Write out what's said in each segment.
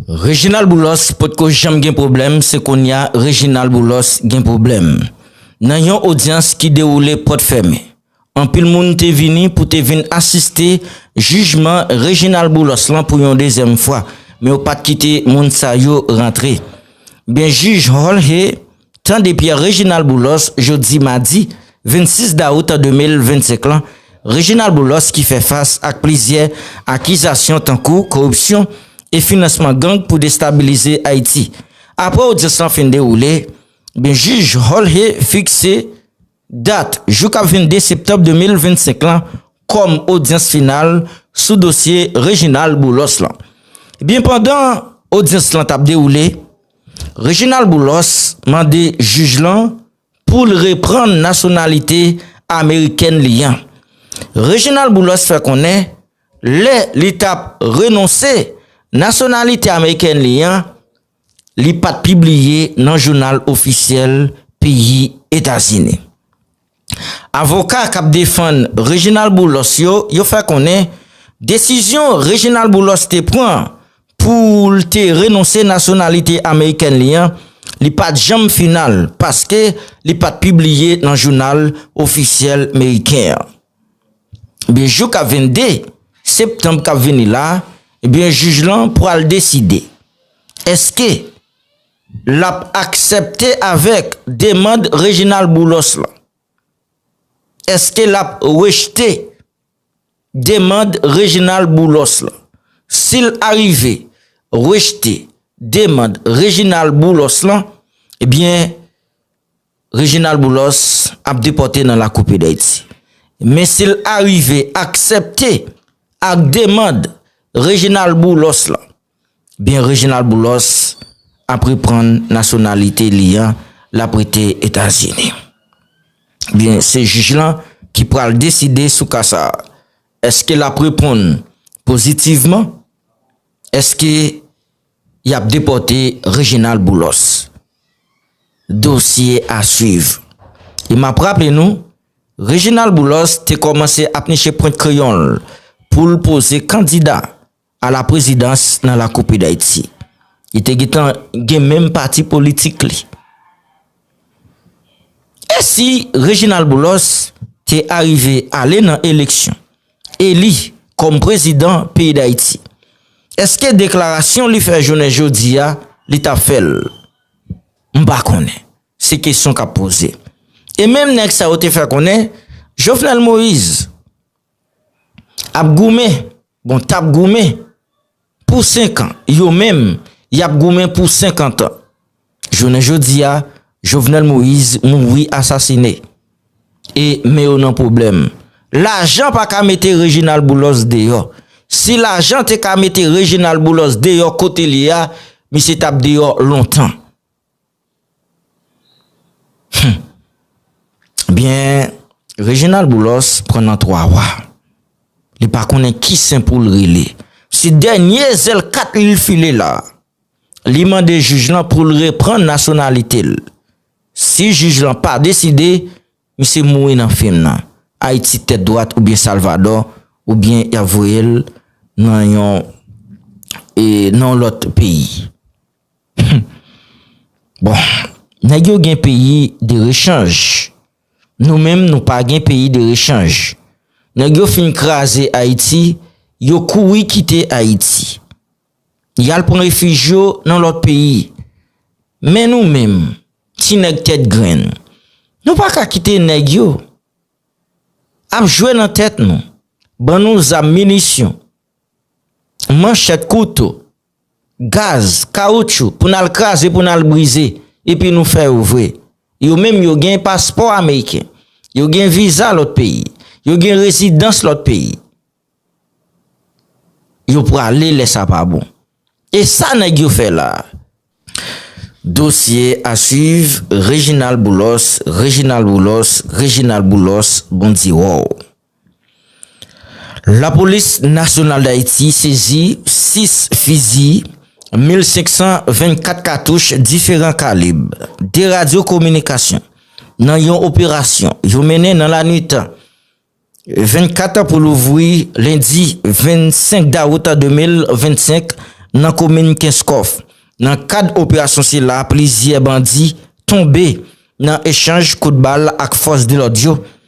Reginald Boulos potko janm gen pwoblèm se konnya Reginald Boulos gen pwoblèm. Nan yon odyans ki dewoule pòt fèmen, anpil moun te vini pou te vin asiste jijman Reginald Boulos lan pou yon dezyèm fwa, men yo pat kite moun sa yo rantre. Byen jij Jorge Tande Pierre Reginald Boulos jodi madi 26 dawout 2025 lan, Reginald Boulos ki fè fas ak plizyè akizasyon tankou koripsyon e finansman gang pou destabilize Ayiti. Aprè odyans lan fin dewoule, Jij Jorge Fixé, Dat, jou k ap 22 septanm 2025 lan kòm odyans final sou dosye Reginald Boulos lan. Ebyen pandan odyans lan t ap dewoule, Reginald Boulos mande jij lan pou l reprann nasyonalite amerikèn li an. Reginald Boulos fè konnen lè li t ap renonse nasyonalite amerikèn li an, li pat pibliye nan jounal ofisyèl peyi Etazini. Avoka kap defann Reginald Boulos yo, yo fè konnen desizyon Reginald Boulos te pran pou l te renonse nasyonalite amerikèn li an, li pat janm final paske li pat pibliye nan jounal ofisyèl meriken an. Ebyen jou ka 22 Septanb kap vini la, ebyen jij lan pwal deside eske lap aksèpte avèk demand Reginald Boulos lan. Eske lap rejte demand Reginald Boulos lan. Sil arive rejte demand Reginald Boulos lan, ebyen. Reginald Boulos ap depòte nan lakou peyi Dayiti. Men si l arive aksèpte ak demand Reginald Boulos lan, byen Reginald Boulos ap reprann nasyonalite li an, l ap rete Etazini. Byen se jij lan ki pral deside sou ka sa a. Eske l ap reponn pozitivman? Eske Yap depòte Reginald Boulos. Dosye a swiv. E map raple nou, Reginald Boulos te kòmanse ap niche pwent kreyon l pou l poze kandida a la prezidans nan lakou peyi Dayiti. Li te gentan gen menm pati politik li. E si Reginald Boulos te arive ale nan eleksyon, eli kòm prezidan peyi Dayiti, eske deklarasyon li fè jounen jodi a, li ta fè l? M pa konnen. Se kesyon k ap poze. E menm nèg sa yo te fè konnen, Jovenel Moïse ap goumen, bon t ap goumen, Pou senkan, yo menm, y ap goumen pou senkantan. Jounen jodi a, Jovenel Moise mouri asasine. E, men yo nan pwoblèm. Lajan pa ka mete Reginald Boulos deyò. Si lajan te ka mete Reginald Boulos deyò kote l ye a, misye t ap deyò lontan. Humm byen Reginald Boulos pran nan 3 wa li pa konnen ki sen pou l rele se dènye zèl kat li l file la li mande jij lan pou l reprann nasyonalite l si jij lan pa deside misye mouri nan fim nan Ayiti tèt dwat oubyen Salvadò oubyen y ap voye l nan yon nan yon lòt peyi. Humm bon nèg yo gen peyi de rechanj nou menm nou pa gen peyi de rechanj nèg yo fin kraze ayiti yo kouri kite ayiti yal pran refij yo nan lòt peyi men nou menm ti nèg tèt grenn nou pa ka kite nèg yo ap jwe nan tèt nou ban nou zam minisyon manchèt kouto Gaz, kawoutchou pou nal kraze pou nal brize epi nou fè yo vre. Yo menm yo gen paspò ameriken, yo gen viza lòt peyi, yo gen rezidans lòt peyi. Yo prale lè sa pa bon. E sa nèg yo fè la a? Dosye a swiv Reginald Boulos Reginald Boulos Reginald Boulos Bon di wow. Lapolis Nasyonal Dayiti sezi 6 fizi, 1524 katouch diferan kalib, 2 radyo kominikasyon nan yon operasyon yo mennen nan lanwit 24 pou louvri lendi 25 dawout 2025 nan komin Kenskòf. Nan kad operasyon sila plizyè bandi tonbe nan echanj kout bal ak fòs de lòd yo.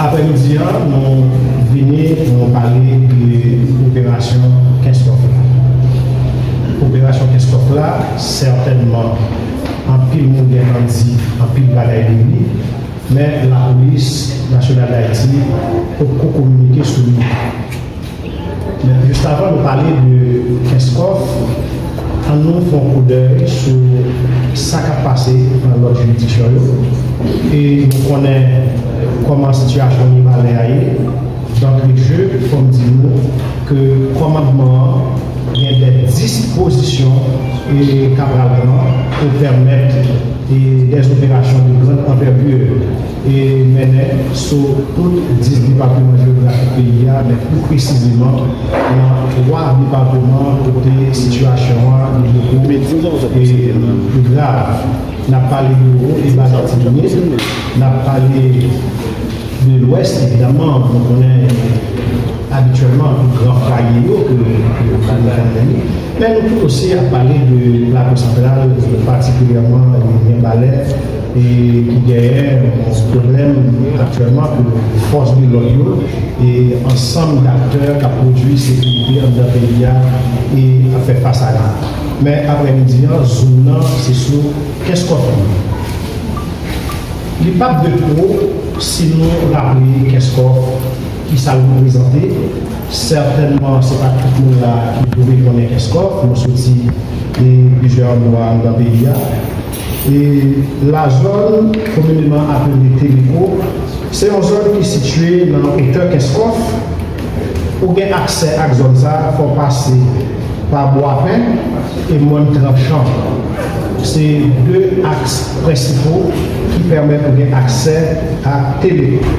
Aprèmidi an nou vini pou nou pale de operasyon Kenskòf la. Operasyon Kenskòf la sètènman anpil moun gentan di anpil bagay de li men lapolis nasyonal Dayiti potko kominike sou li. Men just avan nou pale de Kenskòf, an nou fè yon koudèy sou sa k ap pase nan lòt jiridiksyon yo e nou konnen kòman sitiyasyon Mibalè a ye. Dantre je, fò m di nou ke kòmandman an gen dè dispozisyon k a pral pran pou pèmèt dè operasyon de grand anvètir. te mennen sou tout 10 depatman jewografik peyi a, men pi presizeman nan 3 depatman kote sitiyasyon an li te pi grav. N ap pale de Wo e Bas Atibounit, n ap pale de Lwès evidaman, nou konnen abityèlman gran fwaye yo ke nou konnen. Lè nou tout ose ap pale de Plato Santral, patikilyèman Mibalè, ki genyen yon pwoblèm aktyèlman ke fòs de lòd yo e ansanm daktè k ap pwodui sekirite anndan peyi a ap fè fas a li. Men, aprè midi an, zoom nan se sou Kenskòf li ye. Li p ap de twop si nou raple Kenskòf, kisa l reprezante. Sètènman se pa tout moun la a ki dwe konnen Kenskòf, nou soti e plizyè andwa anndan peyi a. E lazòn komineman apele Teleko, se yon zòn ki sitye nan otè Kenskòf, pou gen aksè ak zòn sa a fò w pase pa Bwapen e Mòn Tranchan, se 2 aks prensipo ki pèmèt ou gen aksè ak Teleko.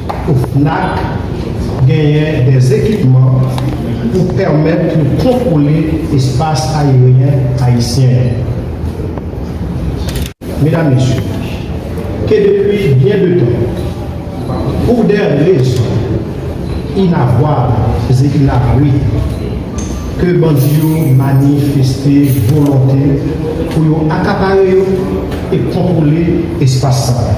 OFNAC genyen dè ekipman pou pèmèt yo kontwole espas aeryen ayisyen an. Medam, Mesye, ke depi byen de tan, pou dè rezon inavwab e inavwe, ke bandi yo manifeste volonte pou yo akapare e kontwole espas sa a.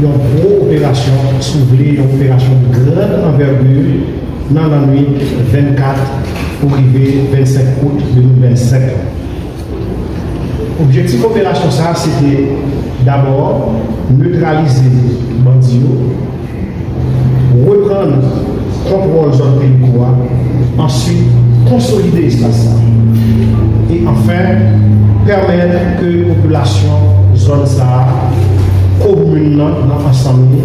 Yon gwo operasyon, si w vle yon operasyon de grande envergure, nan lannwit 24 pou rive 25 out 2025 lan. Objektif operasyon sa a se te, dabò, netralize bandi yo, reprann kontwòl zòn Pelikou a, answit konsolide espas sa a, e anfen pèmèt ke popilasyon zòn sa a, komin nan nan ansanm li,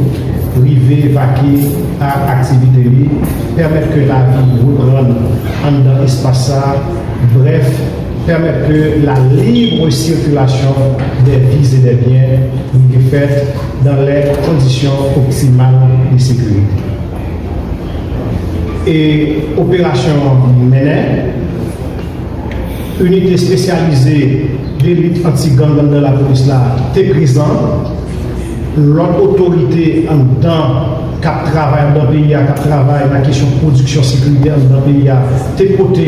rive vake a aktivite li, pèmèt ke lavi reprann anndan espas sa a, brèf. Pèmèt ke la libre circulation des vies et des biens rive fèt dans les conditions optimales de sécurité. E operasyon an mennen, Inite espesyalize de lit anti-gang anndan lapolis la te prezan, lòt otorite anndan k ap travay anndan peyi a, k ap travay nan kesyon pwodiksyon sekirite anndan peyi a te pote.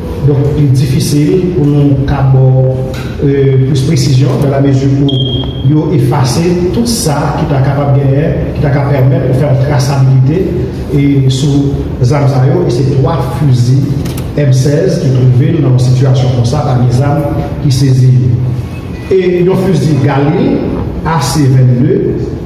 Donk li difisil pou nou ka ba w plis presizyon dan la mezi pou yo efase tout sa ki ta kapab genyen ki ta ka pèmèt ou fè yon trasabilite sou zam sa yo e se 3 fizi M 16 ki twouve l nan yon sitiyasyon konsa pami zam ki sezi yo e yon fizi Galil AC 22.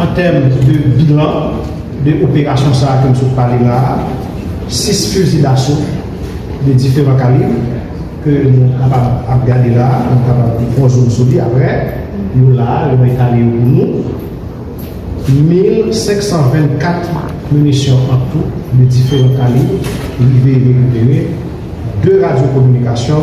An tèm de bilan de operasyon sa a ke m sot pale la a, 6 fizi daso de diferan kalib ke nou kapab ap gade la a, nou kapab ap fè zoom sou li aprè, yo la a, yo mwen etale yo pou nou, 1524 minisyon an tou de diferan kalib rive rekipere, 2 radyo kominikasyon.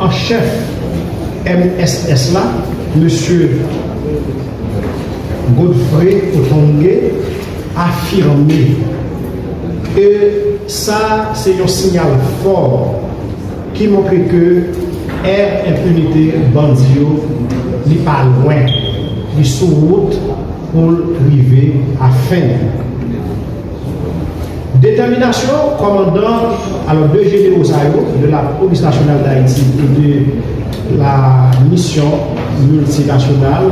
an chèf mss la, Mesye Godfrey Otonge, afime ke sa se yon sinyal fò ki montre ke è enpinite bandi yo li pa lwen, li sou wout pou l rive a fen li. Detèminasyon kòmandan alò 2 jenero sa yo de la polis nasyonal dayiti e de la misyon miltinasyonal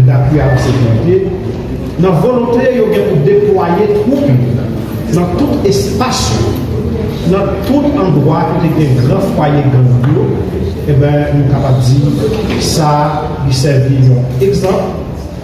dapui a la sekirite nan volonte yo gen pou deplwaye twoup yo nan tout espas yo nan tout andwa kote gen gran fwaye gang yo e ben nou kapab di sa li sèvi yon egzanp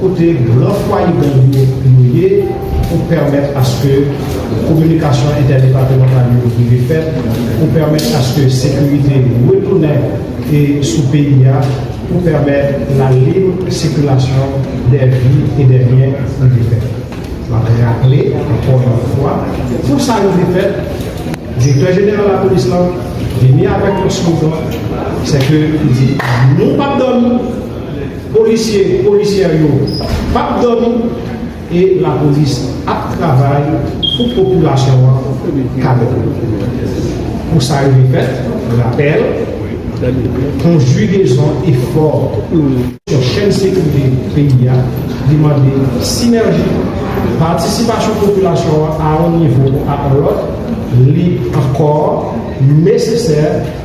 kote gran fwaye gang yo yo ye pou pèmèt aske kominikasyon entèdepatemantal yo rive fèt, pou pèmèt aske sekirite retounen e sou peyi a, pou pèmèt la lib sikilasyon dè vi e dè byen rive fèt. M ap raple ankò yon fwa, pou sa rive fèt, Direktè Jeneral Lapolis lan vini avèk yon slogan, sè ke li di, nou p ap dòmi! Polisye, polisyè yo pap dòmi e lapolis ap travay pou popilasyon an ka dòmi. Pou sa rive fèt, rapèl, konjigezon efò sou chèn sekirite peyi a li mande sinèji, patisipasyon popilasyon an a yon nivo ou a yon lòt, li ankò nesesè.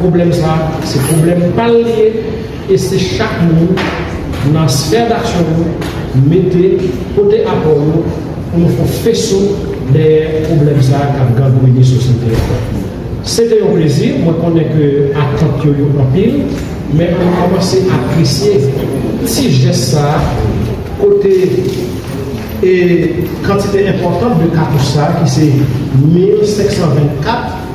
Pwoblèm sa a se pwoblèm pa l li ye e se chak moun nan sfè daksyon yo mete, pote apò yo pou nou fon feso dèyè pwoblèm sa a k ap gangrene sosyete a. Se te yon plezi, mwen konnen ke atant yo yo anpil, men an nou kòmanse apresye ti jès sa a kote e kantite enpòtan de katouch sa a ki se 1524.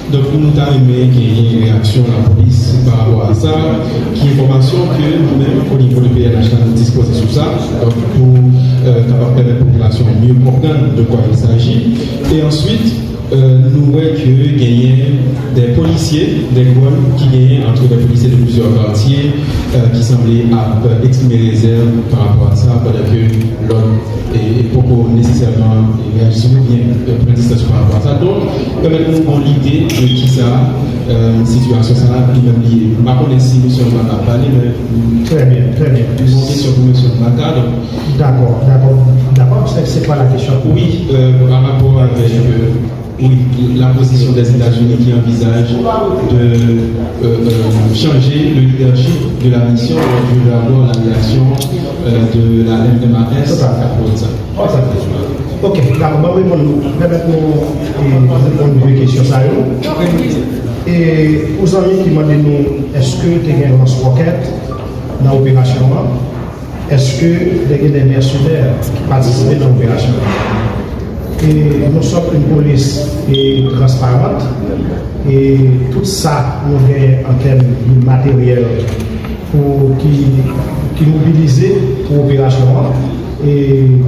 Donk nou ta renmen genyen reyaksyon lapolis pa rapò a sa, ki enfòmasyon ke nou menm o nivo de pnh la nou dispoze sou sa, donk pou kapab pèmèt popilasyon an mye konprann de kwa il saji. E answit nou wè ke genyen dè polisye, dè gwann ki genyen antre dè polisye de plizyè katye ki sanble ap eksprime rezèv pa rapò a sa pandan ke lòt poko nesesèman reyaji sou li oubyen pran distans yo pa rapò a sa. Pèmèt nou pran lide de kisa sitiyasyon sa a li menm li ye. M pa konnen si mesye Anba ka pale men Trè byen, trè byen. Li gon kesyon pou mesye Anba ka donk. Dakò, dakò, dakò. Se kwa la kesyon? Wi, parapò avèk wi lapozisyon Dèzetazini ki anvizaj de chanje le lidèchip de la misyon donk je vè avwa la reyaksyon de la MMAS. Totalman. Ok, dako, mwen reponn nou. Pèmèt nou reponn de kesyon sa yo. E pou zanmi ki mande nou eske te gen lans wòkèt nan operasyon an, eske te gen de mèsenè ki patisipe nan operasyon an? E nou sot yon polis e transparant e tout sa nou gen an tèm de materyèl pou ki mobilize pou operasyon an. E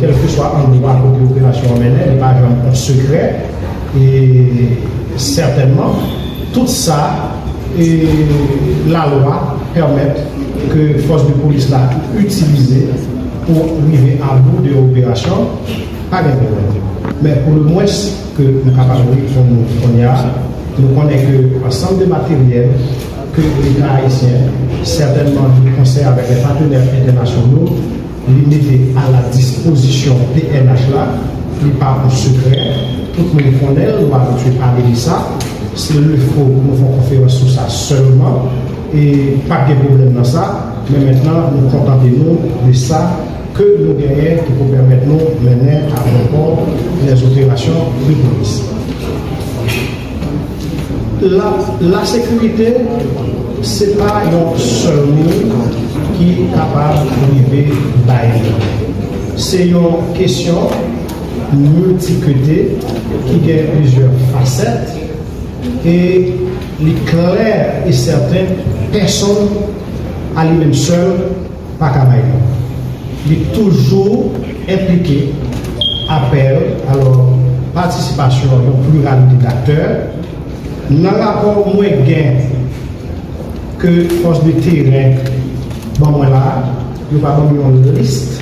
kèlkeswa andwa kote operasyon an mennen, li pa janm on sekrè. E sètènman, tout sa lalwa pèmèt ke fòs de polis la itilize pou rive abou de yon operasyon, pa gen pwoblèm. Men pou le mwens ke nou kapab reponn ou kounye a, nou konnen ke ansanm de materyèl ke Leta ayisyen sètènman de konsè avèk lè patenè entènasyonal, Li mete a la dispozisyon pnh la, li pa pou sekrè, tout moun konnen l, nou pa abitye pale de sa, se lefo pou nou fè yon konferans sou sa sèlman, e pa t gen pwoblèm nan sa, men mentnan nou kontante nou de sa ke nou genyen ki pou pèmèt nou mennen a bon pò lèzoperasyon depolis. La sekirite se pa yon sèl moun ki kapab rive bay li. Se yon kesyon miltikute ki gen plizyè fasèt e li klè e sèten pèsonn a li menm sèl paka bay non li toujou enplike apèl alò patisipasyon yon pliralite daktè nan rapò mwen gen ke fòs de teren ban mwen la yo pa banm yon liste.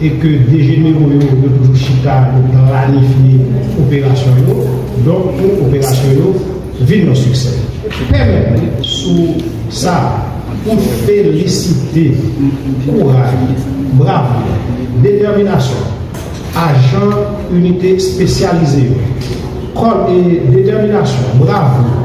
e ke 2 jenero yo yo toujou chita yo planifye operasyon yo, donk pou operasyon yo vin yon siksè. Pèmèt mwen sou sa pou m felisite kouray, bravou, detèminasyon ajan inite espesyalize yo, kòd e detèminasyon, bravou,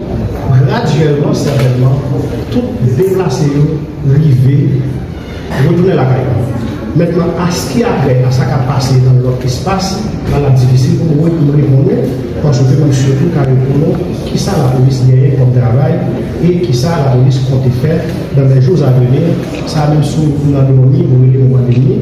Gradyèlman, sètènman, tout deplase yo rive retounen lakay yo. Mentnan, aski apre a sa k ap pase nan lòt espas, la l ap difisil pou mwen pou m reponn ou, paske se mwen sèl ki ka reponn ou kisa lapolis genyen kòm travay e kisa lapolis konte fè nan lèjou avenir, sa menm si w nan dòmi, w rele nou pandemi.